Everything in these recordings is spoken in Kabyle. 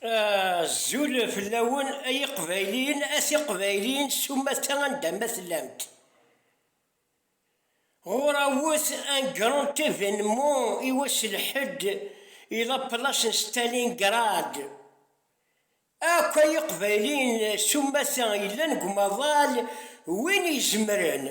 Azul fell-awen ay iqbayliyen, a tiqbayliyin s umata anda ma tellamt. Ɣur awet un grand événement i wass n lḥedd i la place n Stalingrad. Akk ay iqbayliyen s umata yellan deg umaḍal, win izemren.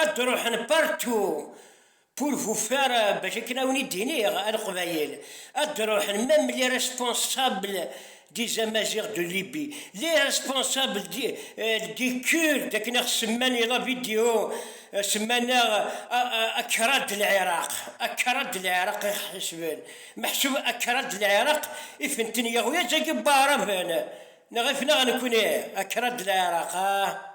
Ad d-ruḥen partout pour vous faire bac akken a wen-id-iniɣ a Leqbayel, ad d-ruḥen même les responsables des Amaziɣ de Libye, les responsables des Kurdes akken a ɣ-semman i la vidéo, semman-aɣ Akra de l'Iraq, Akra de l'Iraq i ɣ-ḥesben, meḥsub Akra de l'Iraq ifen-ten yeɣwi-aẓ-agi Baɛraben, neɣ ifen-aɣ nekni Akra de l'Iraq, ah!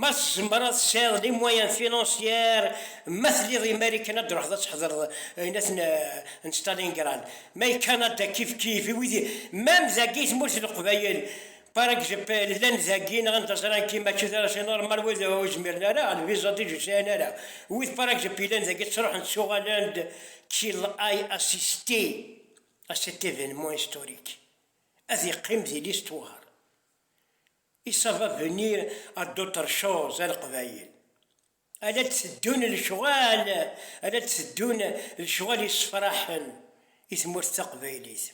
Ma tzemreḍ ad tesɛiḍ les moyens financiers, ma telliḍ imal i kan ad d-truḥeḍ ad tḥedreḍ ayen ad ten n Stalingrad, ma i Canada kif kif, i wid même dagi i tmurt n Leqbayel par exp llan dagi neɣ anda ẓran ki mačči d arac normal wid ur zmiren ara a lviza dij ur sɛin ara, wid par exp yellan dagi ttruḥen ttuɣalen-d ki l'ai assisté à cet événement historique ad iqqim di l'histoire. Il ça va venir à d'autres choses a Leqbayel. A la d-teddun lecɣal, a la d-teddun lecɣal yessefraḥen i tmurt taqbaylit.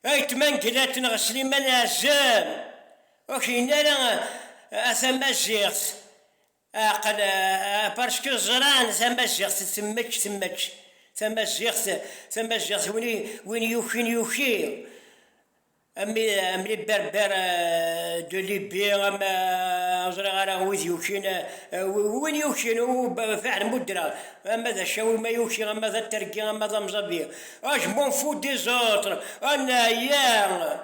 Ayetma n Glat neɣ Sliman Ɛezzam, ur k-yenna ara a tamaziɣt, Ɛqel, parcku ẓran tamaziɣt temmek temmek, tamaziɣt tamaziɣt win win yukin yuki, am am les berbères de Libye, am ur ẓriɣ ara wid yukin, win yukin fiḥel ma ur ddreɣ, ama d acawi ma yuki, ama d atergi, ama d amẓabi, je m'en fous des autres, ann-a yya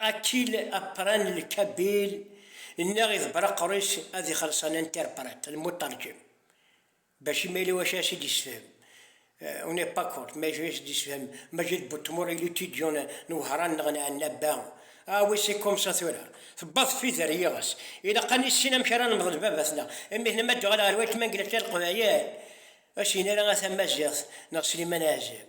Akil apran n Kabil nniɣ idebber aqerru-is ad ixelleṣ an interprète, le muterjim, bac imi yella wacu ara s-id-yessefhem. On n'est pas contre, mais wacu ara s-id-yessefhem Majid Boutemour, il étudiant n Wehran neɣ n Ɛennaba? Ah oui, c'est comme ça tura, tewweḍ tfidi ar yiɣes. Ilaq a nissin amek ara nemḍel baba-tneɣ, mmi-tneɣ ma d-tuɣal ɣer weltma n Glatya Leqbayel, ur s-yenni ara a tamaziɣt neɣ Sliman Ɛzem.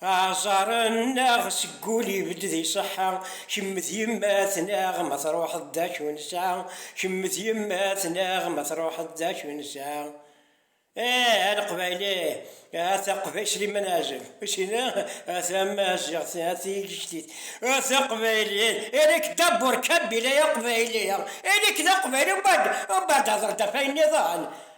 Aẓar-nneɣ seg ul ibedd d iṣeḥḥa, kemm d yemma-tneɣ ma truḥeḍ d acu nesɛa, kemm d yemma-tneɣ ma truḥeḍ d acu nesɛa. Eeh a Leqbayli, a Taqbaylit, Sliman Ɛazem, ur sin ara tamaziɣt, a tigejtit, a Taqbaylit, ili-k d aburkabi, ili-k d aqbayli, ili-k d aqbayli, umbeɛd, umbeɛd hder-d ɣef wayen-nniḍen.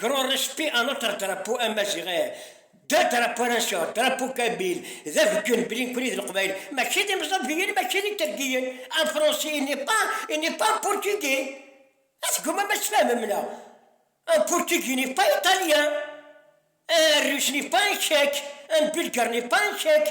Grand respect à notre drapeau amaziɣi d adrapo aranseur, drapo kabil, d abeggun belli nekkni d leqbayel, mačči d imẓabiyen, mačči d itergiyen, un français il n'est pas, il n'est pas un portugais, ah tgumam ad tfehmem neɣ? un portugais n'est pas italien, un russe n'est pas un tchèque, un bulgare n'est pas un tchèque,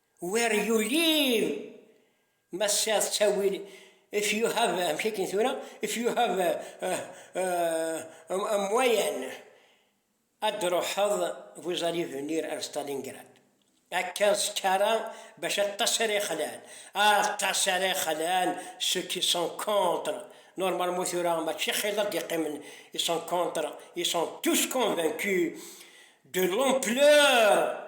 Where you live? Ma tesɛiḍ ttawil, if you have, amek akken tura, if you have a, a, a, a moyen, ad d-ruḥeḍ, vous allez venir à Stalingrad. Akka ẓkara bac aṭas ara ixlan, aṭas ara ixlan ceux qui sont contre, normalement tura mačči xil ad d-iqqimen, ils sont contre, ils sont tous convaincus de l'ampleur